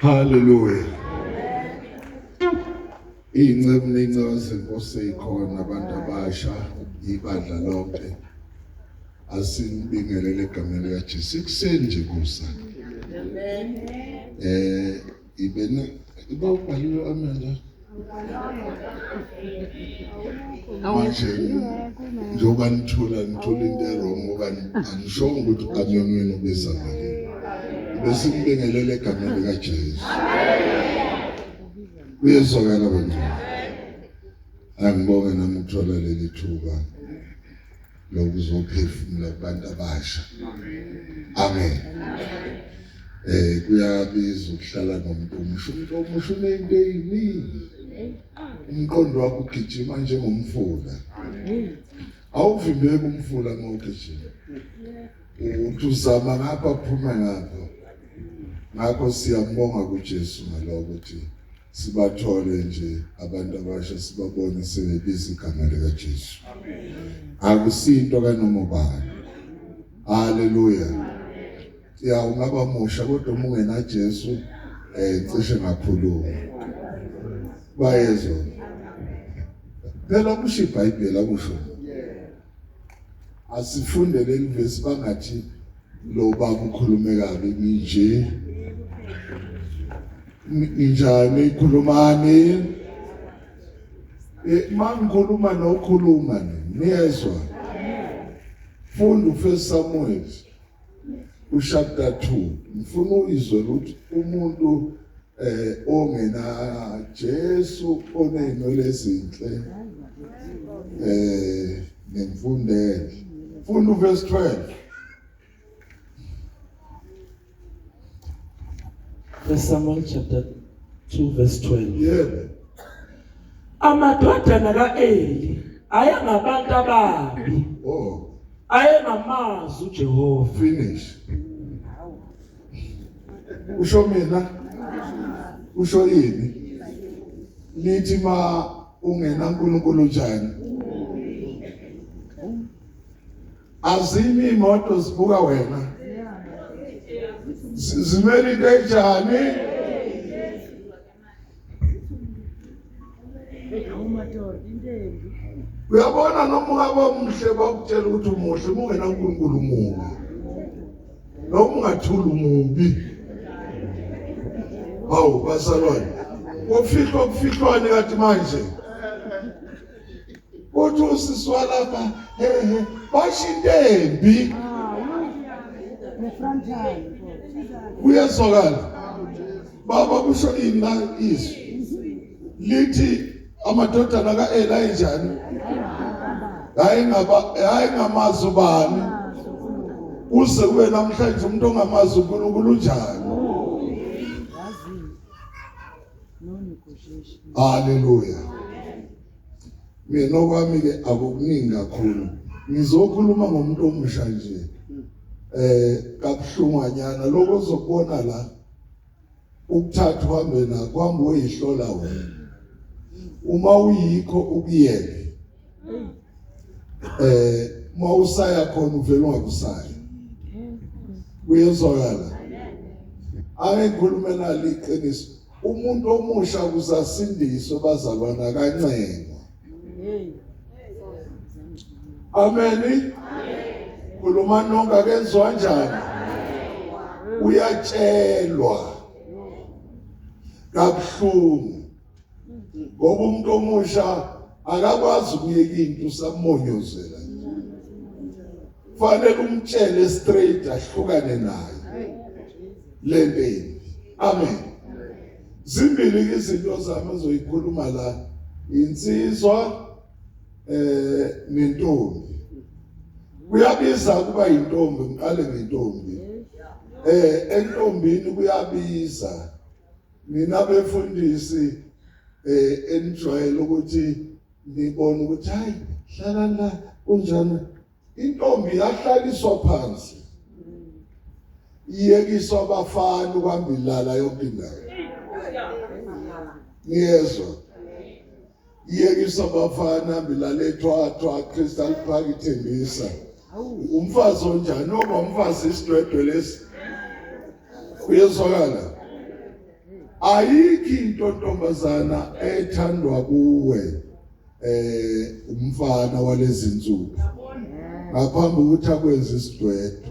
Hallelujah. Inceku nencazi Nkosi ikhona abantu abasha ibandla lonke. Asinibingelele egameni likaJesu. Ikuseni nje kusa. Amen. Eh Ibene iba ubhaliwe amenda. Manje njengoba nithula nithula into erong okanye angishongo ukuthi ukanyonweni ubiza malini. Bese ngibingelele egameni likaJesu. Kuyezwakala bantwana. Angibonge nami ukuthola leli thuba. lokuzophefumula kubantu abasha amen eh kuyabiza ukuhlala nomuntu omusha umuntu omusha unento eyiningi umqondo wakho ugijima njengomfula awuvimbeki umfula ngokugijima uthi uzama ngapha phuma ngapha ngakho siyambonga kuJesu ngaloko ukuthi sibathole nje abantu abasha sibabone sebebiza igama lika Jesu akusinto kanoma ubani haleluya ya ungaba musha kodwa uma ungena Jesu eh cishe ngakhuluma bayezwa phela kusho iBhayibheli akusho asifunde leli vesi bangathi lo baba ukhulume kabi nje ninjani ikhulumani eh, mangikhuluma nokhuluma niyezwa funda ufesi samuel ushapta 2 ngifuna uyizwe ukuthi umuntu eh ongena Jesu oneyinwele ezinhle eh nemfundele funda verse 12 First Samuel chapter 2 verse 12 yebo amadodana kaEli ayangabantu ababi oh ayenamazwi uJehova finish usho mina usho yini lithi ma ungena uNkulunkulu njani azimi imoto zibuka wena zimele into enjani uyabona noma ungaba muhle bakutshela ukuthi umuhle uma ungenankulunkulu mubi noma ungathula umubi hawu basalwane kufihlwa kufihlwane kathi manje uthi usisi walapha hehe basho into embi kuyezwakala baba kusho ini la izwi lithi amadodana kaEli ayinjani hayi ngaba hayi ngamazi ubani uze kube namhlanje umuntu ongamazi uNkulunkulu unjani Hallelujah mina okwami ke akukuningi kakhulu ngizokhuluma ngomuntu omusha nje eh kabuhlungwanyana lokho ozokubona la ukuthatha uhambe nako kwami uyihlola wena uma uyikho ukuyeke eh uma usaya khona uvela ungakusayi kuyezwakala ake ngikhulume nalo iqiniso umuntu omusha kusasindiswa bazalwana kancengwa Amen. Khuluma nonke akenziwa njani? Uyatshelwa kabuhlungu ngoba umuntu omusha akakwazi ukuyeka into usamonyozela nje. Fanele umtshele straight ahlukane naye. Lempeni. Amen. Zimbili izinto zami azoyikhuluma la. Insizwa eh nentombi. Kuyabiza kuba intombi ngiqale ngentombi. Eh entombini kuyabiza. Mina befundisi eh enijwayele ukuthi nibone ukuthi hayi hlala la kunjani Intombi yahlaliswa phansi. Iyekiswa abafana ukuhamba ilala yonke indawo. Ngiyezwa. Iyekiswa abafana bilala ethwathwa Crystal Park ithembisa. Umfazi onjani oba umfazi isidwedwe lesi. Uyezwakala. Ayikho into ntombazana ethandwa kuwe. eh umfana walezinsuku ngaphambi ukuthi akwenze isidwedwe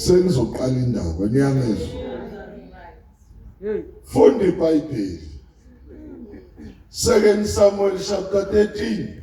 sengizoqala indaba niyangezwa funda ibhayibheli second samuel chapter 13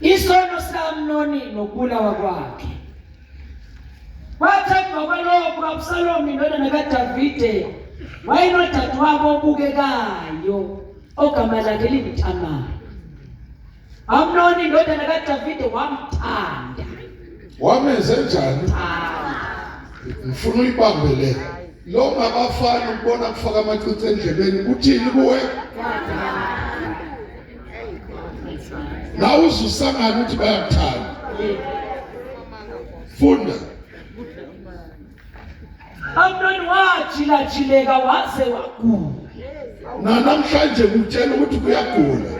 Isono sikaAmnoni nokubulawa kwakhe kwathi emva kwalokho uAbsalomu indodana kaDavide wayenodadewabo obukekayo ogama lakhe linguTamari. Amnoni indodana kaDavide wamthanda wamenze njani ngifuna uyibambe le lo ngabafana ukubona kufaka amacici endlebeni kuthini kuwe nawe uzusangana ukuthi bayakuthanda funda Amnon wajilajileka waze wagula. Nanamhlanje kutshela ukuthi kuyagula.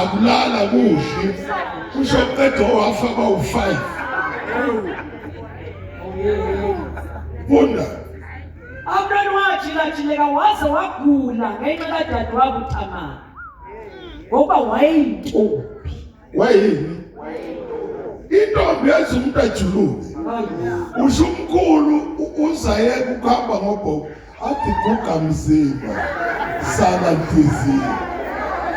Akulala kuhle. Kusho qedwa wafa kwawu-5. Funda. Amnon wajilajileka waze wagula ngenxa kadadewabo uThamari. Ngoba wayeyintombi. wayini intombi yenza umuntu ajuluke usho umkhulu uzayeka ukuhamba ngobhoko athi guga mzimba sala ntizini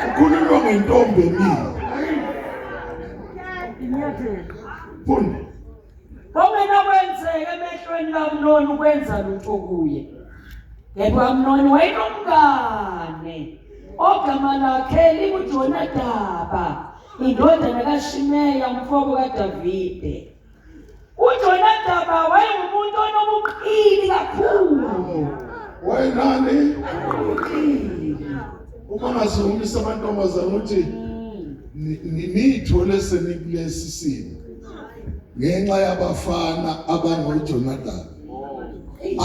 ukhululwa ngentombi emile fundi Kungena kwenzeke emehlweni kaMnoni ukwenza lutho kuye. Yebo uMnoni wayenomngane ogama lakhe linguJonadaba, indodana kaShimeya umfowabo kaDavide. UJonadaba wayengumuntu onobuqili kakhulu. Wayenani? Uma ngazungumisa amantombazane ukuthi mm. nithole senikulesi simo ngenxa yabafana abanoJonadab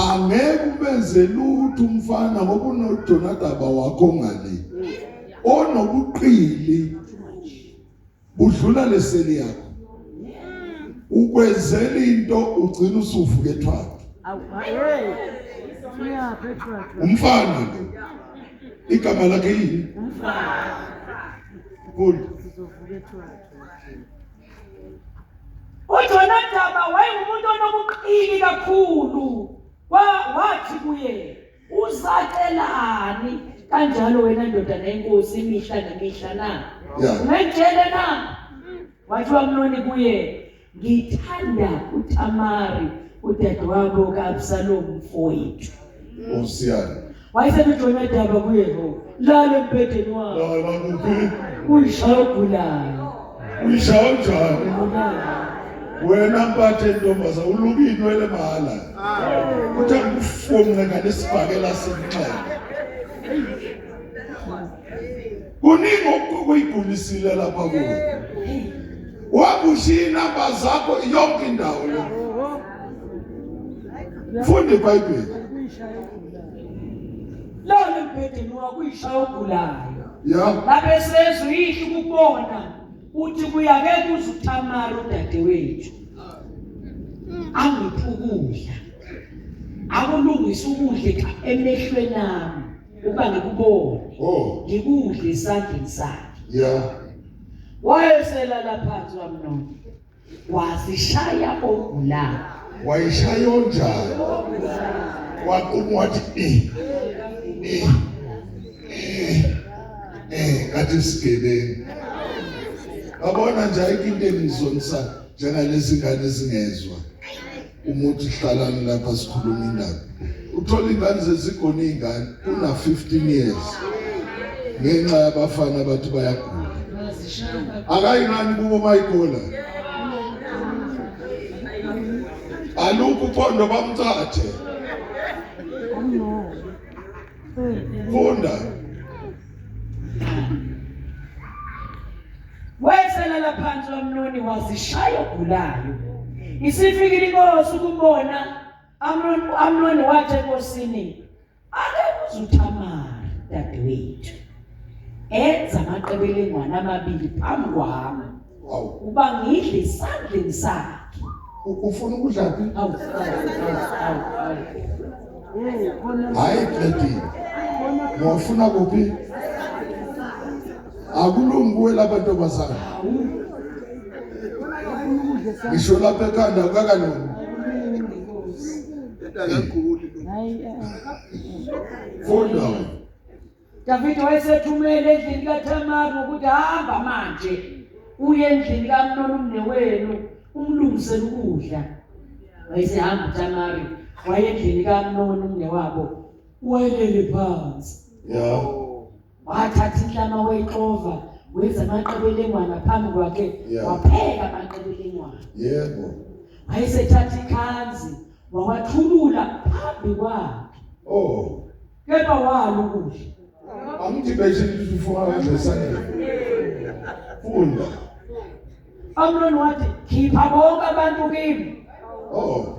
angeke ubenze lutho umfana ngoba unoJonadab wakho ngale onobuqili budlula leseli yakho ukwenzela into ugcina usuvuka ethwala umfana lo igama lakhe yini umfana uJonadaba wayengumuntu onobuqili kakhulu wathi kuye uzacelani kanjalo wena ndodana yenkosi imihla nemihla na ngitshele na wathi wamnoni kuye ngithanda uTamari udadewabo kaAbsalom mfowethu Osiyana wayeselujoyina udaba kuyehova lale mbhedeni wabo lala kuphi uyishaya ogulayo uyishaya njani wena mpathe ntombaza uluka inwele mahala kuthi angikufunge ngane sibhakela senxele kuningi okuyigulisile lapha kuwe wakushiya inamba zakho yonke indawo le funda ibhayibheli lona embhedeni wakho uyishaya ogulayo babesezwe uyihli kubona uthi kuyake kuze uthamara udadewethu angiphi ukudla akulungise ukudla emehlweni ami ukuba ngikubone oh. ngikudle esandleni sakhe wayeselala phansi wamnona wasishaya ogula wayishaya onjani waquma wathi eh eh eh ngathi sigebengu babona nje ayikho into engizonisa njengalezi ngane zingezwa umuthi hlalani lapha sikhuluma indaba uthola ingane zezigona izingane kuna 15 years ngenxa yabafana bathi bayagula akayingani kubo mayigula alukho uphondo bamthathe funda Weselela phansi uAmnoni wazishaya ogulayo. Isifikile inkosi ukubona Amnoni uAmnoni wathi enkosini ake kuzuthamara dadewethu. Enza amaqebelengwana amabili phambi kwami. Wow. Uba ngidle isandleni sakhe. Ufuna ukudla phi? Awu. Hayi qedile. Ngofuna kuphi? akulungi kuwe lapha ntombazana ngisho lapha ekhanda kukakalungi funda Davide wayesethumele endlini kaThamari ngokuthi hamba manje uye endlini kaMnoni umnewenu umlungisele ukudla wayesehamba uThamari waye endlini kaMnoni umnewabo wayelele phansi yeah wathatha inhlama wayixova wenza amaqebelengwana phambi kwakhe Yeah. wapheka amaqebelengwana Yebo. wayesethatha ikhanzi wawathulula phambi kwakhe Oh. kepha walo ukudla Angithi beshe lifuwa nje sanje. Funda. amnoni wathi khipha bonke abantu kimi Oh.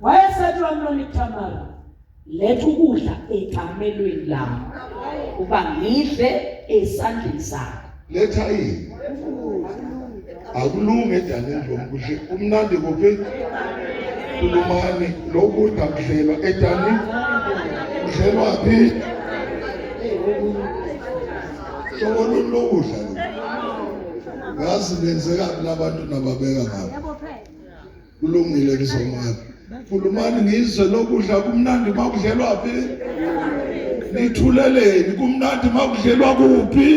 wayesethi wamlona iThamara letha ukudla ekamelweni lami uba ngidle esandleni sakho letha yini akulunge edaneni lomkudle umnandi kuphi kulumane lokudla kudlelwa edani kudlelwa phi sobona ulokudla ngazi benzeka kulabantu nababeka ngabo kulungile ngizomaka khulumani ngizwe lokudla kumnandi makudlelwa phi nithuleleni kumnandi makudlelwa kuphi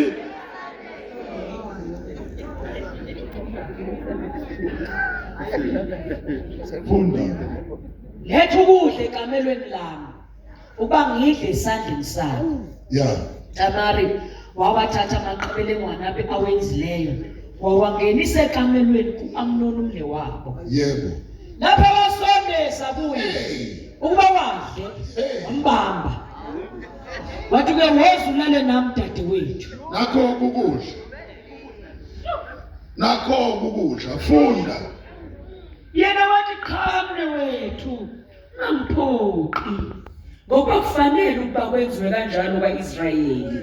funda letha ukudla ekamelweni lami uba ngidle esandleni sakho ya tamari wawathatha amaqebelengwana abe awenzileyo wawangenisa ekamelweni ku-amnoni umle wabo yebo lapho abasondeza kuye ukuba wadle umbamba wathi ke woza ulale nami dadewethu nakho ukudla nakho ukudla funda yena wathi qha mne wethu Angiphoqi. Ngoba kufanele ukuba kwenziwe kanjalo kwaIsrayeli.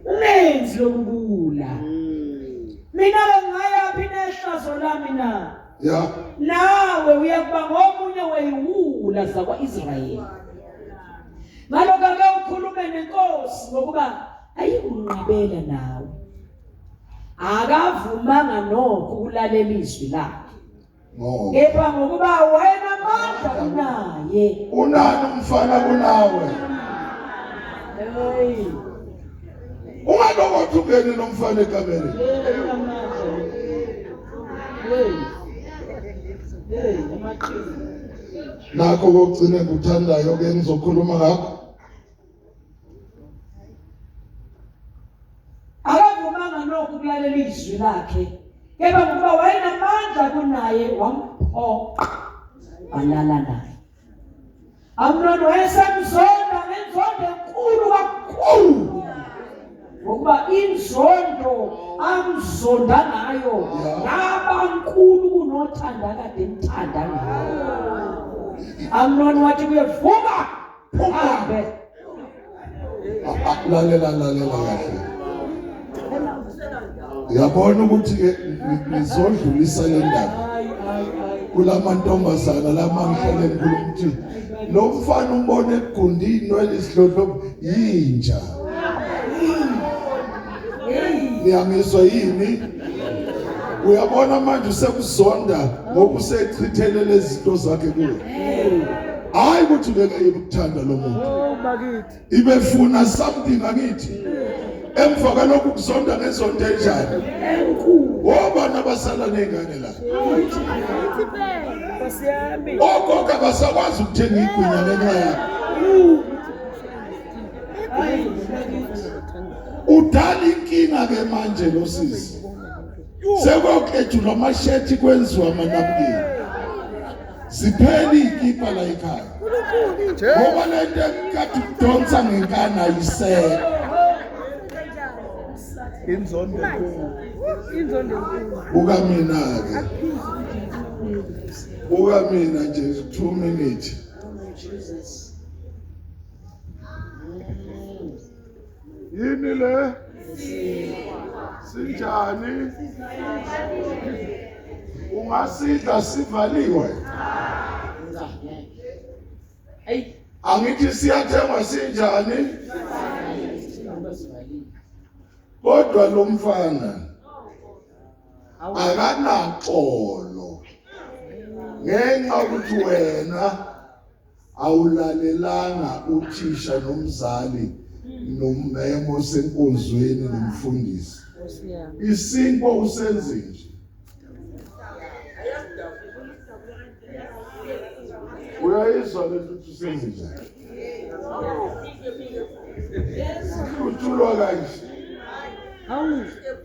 Ungenzi lokubula. Mina bengayaphi nehlazo lami na? Ya. Nawe uyakuba ngomunye weyiwula zakwaIsrayeli. Ngalokho ake ukhulume nenkosi ngokuba ayikunqabela nawe. Akavumanga nokho ukulalela izwi lakhe. ngoba kepha ngokuba wayenamandla kunaye unani umfana kunawe hey ungalokothi ungene nomfana ekamere nakho kokugcine kuthandayo ke ngizokhuluma ngakho akavumanga nokho ukulalela izwi lakhe kepha ngoba wayenamandla kunaye wamphoqa walala naye amnoni wayesemzonda ngenzondo enkulu kakhulu ngokuba inzondo amzonda ngayo yabankulu kunothanda kade emthanda ngayo amnoni wathi kuyevuka phume lalela lalela kahle yabona ukuthi ke ngizodlulisa le ndaba kulamantombazana lamanhlele enkulu ukuthi lo mfana umbone egundini welisidlodlo yinja niyangizwa yini uyabona manje usekuzonda ngoba usechithele lezi zinto zakhe kuwe hayi ukuthi ubeka yini ukuthanda lo muntu oh, ibefuna something akithi emva kwalokhu kuzonda ngezonto enjani wobani abasala ney'ngane la ogogo abasakwazi ukuthenga igwinya ngenxa yakho udala inkinga ke manje lo sisi sekwakhetshulwa amashethi kwenziwa amanabukeni ziphela iy'kipha la ekhaya ngoba le nto ekade kudonsa ngenkani ayisekho inzondo buka mina-ke buka mina nje two minute yini le sinjani ungasidla sivaliwe angithi siyathengwa sinjani kodwa lo mfana akanaxolo ngenxa ukuthi wena awulalelanga uthisha nomzali nomemo senkonzweni nomfundisi isinkwa usenze nje uyayizwa lento ukuthi usenze njani uthulwa kanje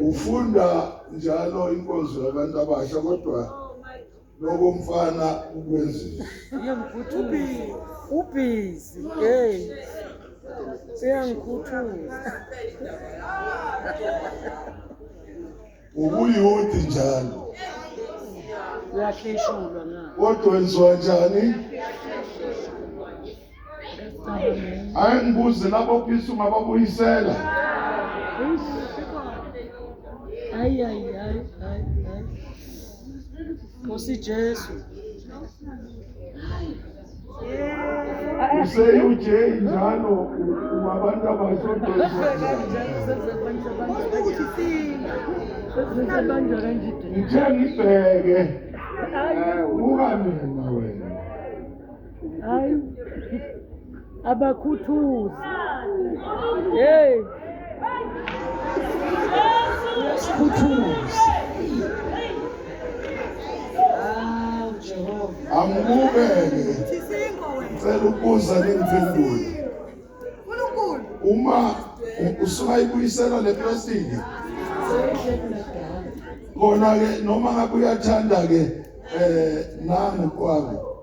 ufunda njalo inkonzo yabantu abasha kodwa lokho mfana ukwenzile ubhizi hey uyangikhuthuza ubuyuthi njalo uyahleshulwa na kodwa wenziwa njani hayi ngibuze labo phisa ungababuyisela hayi hayi hayi hayi nkosi jesu useUJ njalo wabantu abasodongithe ngibheke uka mina wena hayi abakhuthuzi hey uyasikhuthuza hawu jehova angibukele ngicela ukubuza ningiphendule uma usuka ibuyisela le plastic kona ke noma ngabe uyathanda ke eh nami kwabo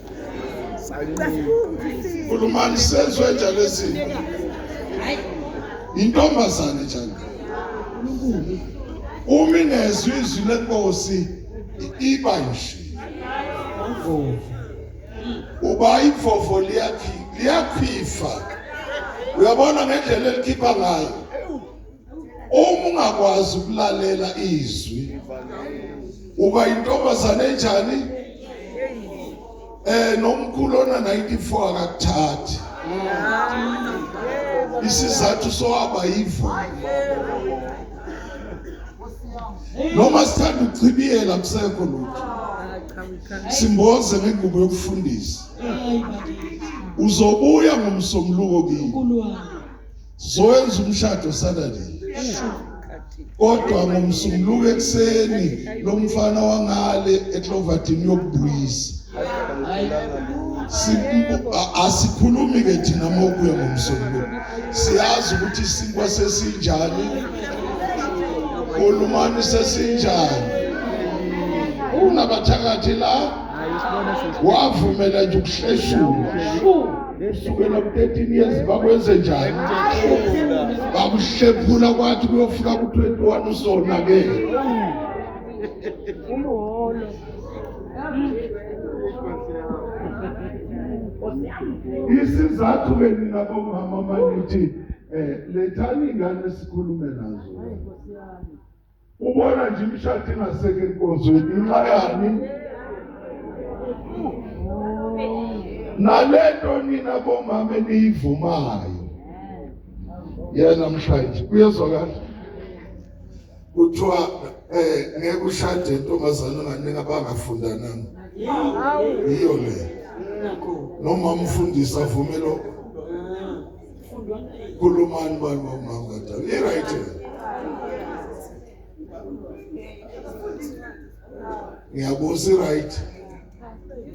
Kulumani senzwe njalo ezinto. Intombazane njalo. Uma ingezwe izwi lenkosi iba nje. Uba imfofo liyakhi liyakhifa. Uyabona ngendlela elikhipha ngayo. uma ungakwazi ukulalela izwi uba intombazane enjani eh nomkhulu ona 94 akakuthathi isizathu sohaba yivo noma sithanda ukuchibiyela kusekho lutho simboze ngengubo yokufundisa uzobuya ngomsombuluko kimi Sowenza umshado Saturday. Kodwa ngomsunguluko ekseni lo mfana wangale eCloverton yokubuyisa. Asikhulumi ke thina mokuya ngomsunguluko. Siyazi ukuthi isinkwa sesinjani. Kulumani sesinjani. Unabathakathi la wavumela nje ukuhleshulwa kusukela ku-13 years bakwenze njani bakuhlephula kwathi kuyofika ku-21 usonakele umholo isizathu ke nina bomama manithi um eh, lethani ingane sikhulume nazo ubona nje imishado ingaseke enkonzweni inxa yani nalento nina bomama eniyivumayo yena mshayeli kuyezwakala kuthiwa eh ngeke ushade intombazana onganingi abangafundananga yiyo le noma umfundisi avumelo Kulumani bani wamama kadala. I right. Ngiyabuza right.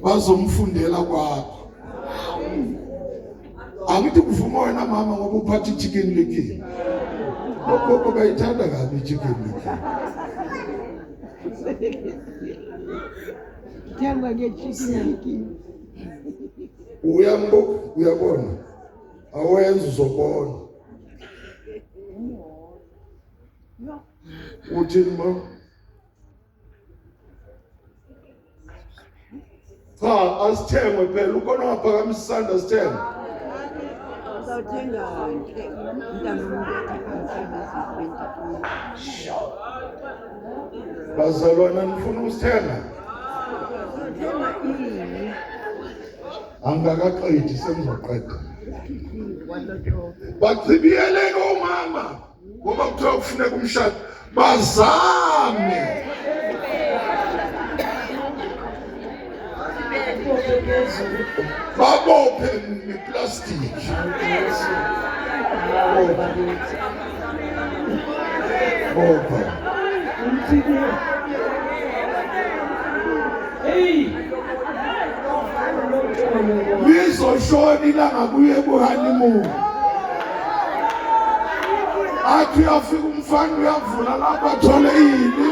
Bazomfundela kwakho. Angithi kuvuma wena mama ngoba uphatha ichicken licky. Lokho bayithanda kabi ichicken licky. Thengwa ngechicken licky. Uyambo uyabona. awenza uzobona uthini ma cha asithengwe phela ukona ungaphakamisa isandla asithengwe bazalwana nifuna ukusithenga angikakaqedi sengizoqeda bachibiyeleke omama ngoba kuthiwa kufuneka umshado bazame babophe ngeplastiki Bopha. Umthike. Hey. Lizoshona ilanga kuye kuhanimu. Athi uyafika umfana uyavula lapha athole ini.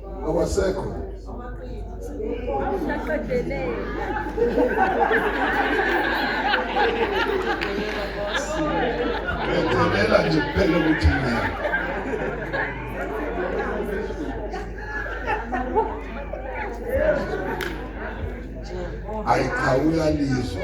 awasekho ngiyadelela nje kuphela ukuthi ngiyena ayiqhawula lizwe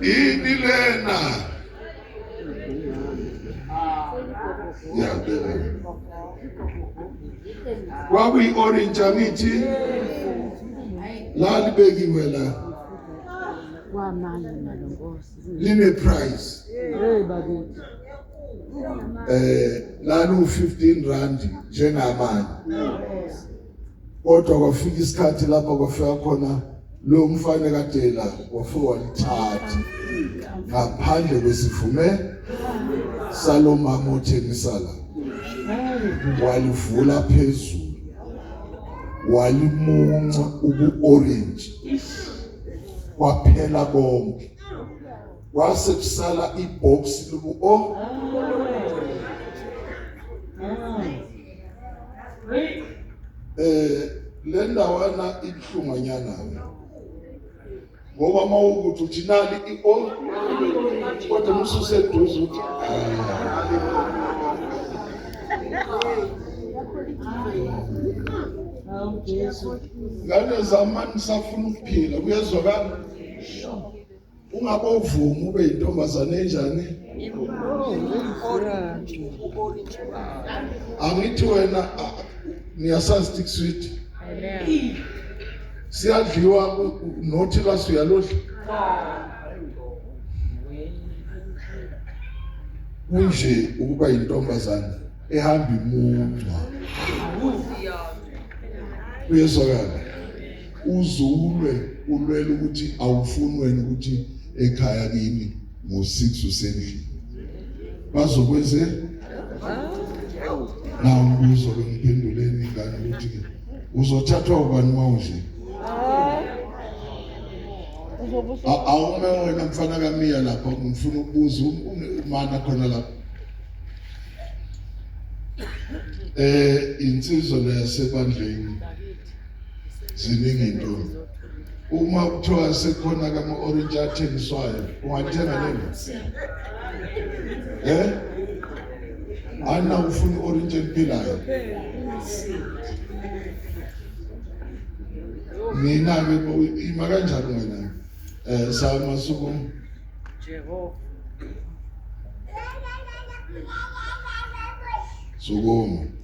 Yini lena? Yabela. Kwakuyi orange angithi lalibekiwe la. Kwamanje nalonkosi. Line price. Hey bakithi. Eh lalu 15 rand njengamanje. kodwa kwafika isikhathi lapho kwafika khona lo mfana kadela wafika walithatha ngaphandle kwesivume salomama othengisala walivula phezulu walimunca ubu-orange kwaphela konke kwase kusala ibhoksi lobu-o eh le ndawana ibuhlunganyana ngoba mawukuthi uthi nali i-all kodwa mususeduze uthi ngane zamani safuna ukuphila kuyezwakala ungabovumi ube intombazane enjani angithi wena niyasazi stick sweet siyadliwa nothi lwaso uyalodla kunje ukuba yintombazane ehamba imuncwa uyezwakala uzulwe ulwela ukuthi awufunweni ukuthi ekhaya kimi ngo-six usendlini bazokwenze nawo mbuzo bengiphenduleni ingane ukuthi uzothathwa ubani uma undlini awume wena mfana kamiya lapho ngifuna ukubuza umana khona lapho eh insizwa leyasebandleni ziningi into uma kuthiwa sekhona kama orange athengiswayo ungathenga lena eh ana ufuna orange emphilayo mina ke ima kanjalo wena eh sama suku Jehova sukuma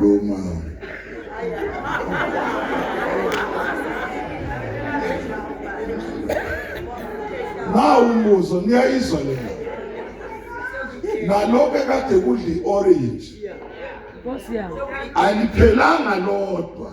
Roma. Na umbuzo niyayizwa le. Naloke kade kudli orange. Nkosi yami. Aliphelanga lodwa.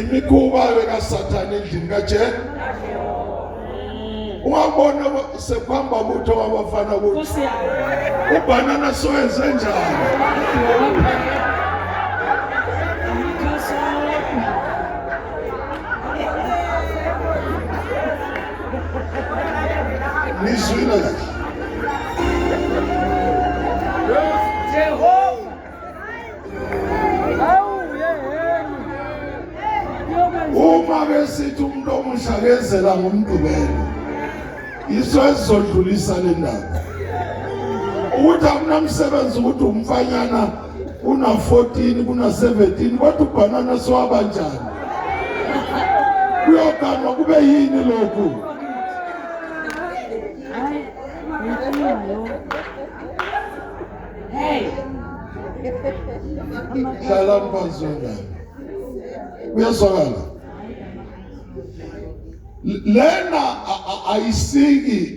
imikhuba bekasathane endlini kajena ungabona sekuhamba ukuthi wabafana ukuthi ubhanana sowenze njani nizwile kahle uma besithi umuntu omusha kezela ngomdubelo yiso esizodlulisa le ndaba ukuthi akunamsebenzi ukuthi umfanyana kuna-14 kuna-17 kodwa ubhanana siwaba njani kuyoganwa kube yini lokhu hlalani phansi wengane uyezwakala lena ayisiki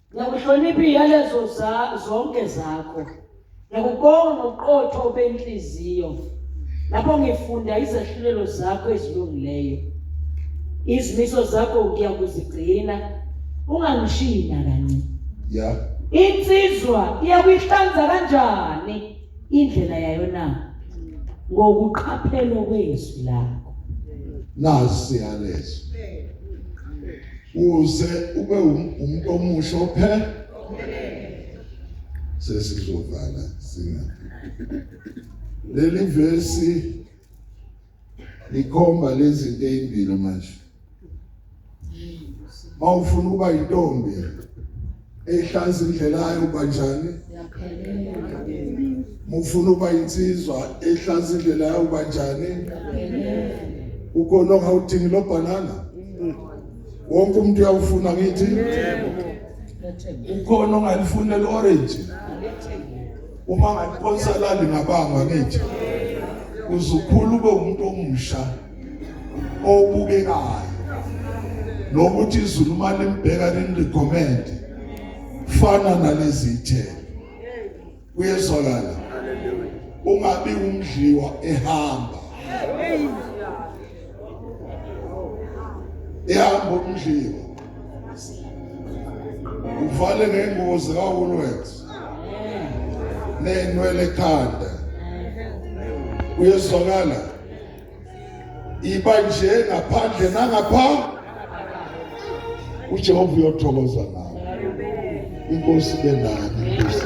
Ngiyakuhlonipha iyalezo za zonke zakho. Ngiyakubonga ngoqotho obenhliziyo. Lapho ngifunda izahlulelo zakho ezilungileyo. Izimiso zakho ngiyakuzigcina. Ungangishiyi nakanye. Yeah. Insizwa iyakuyihlanza kanjani indlela yayo na? Ngokuqaphela kwezwi lakho. Nasi yalezo. uze ube umuntu omusha ophela sesizovala singathi leli verse likhomba lezi zinto ezimbili manje mawufuna ukuba intombi ehlaza indlela yayo uba njani mufuna uba insizwa ehlaza indlela yayo uba njani ukolonga udingi lo bhanana wonke umuntu uyawufuna ngithi ukhona ongalifuni leli orange uma ngaliphonsa lali ngabanga ngithi uzukhula ube umuntu omusha obukekayo nokuthi izulu uma limbheka linirecommende fana nalezi ithelo kuyezwakala ungabi umdliwa ehamba ehamba umdliwa uvale ngengozi kawulwenzi nenwele ekhanda uyezwakala iba nje ngaphandle nangapha uJehova uyothokoza nawe inkosi benani inkosi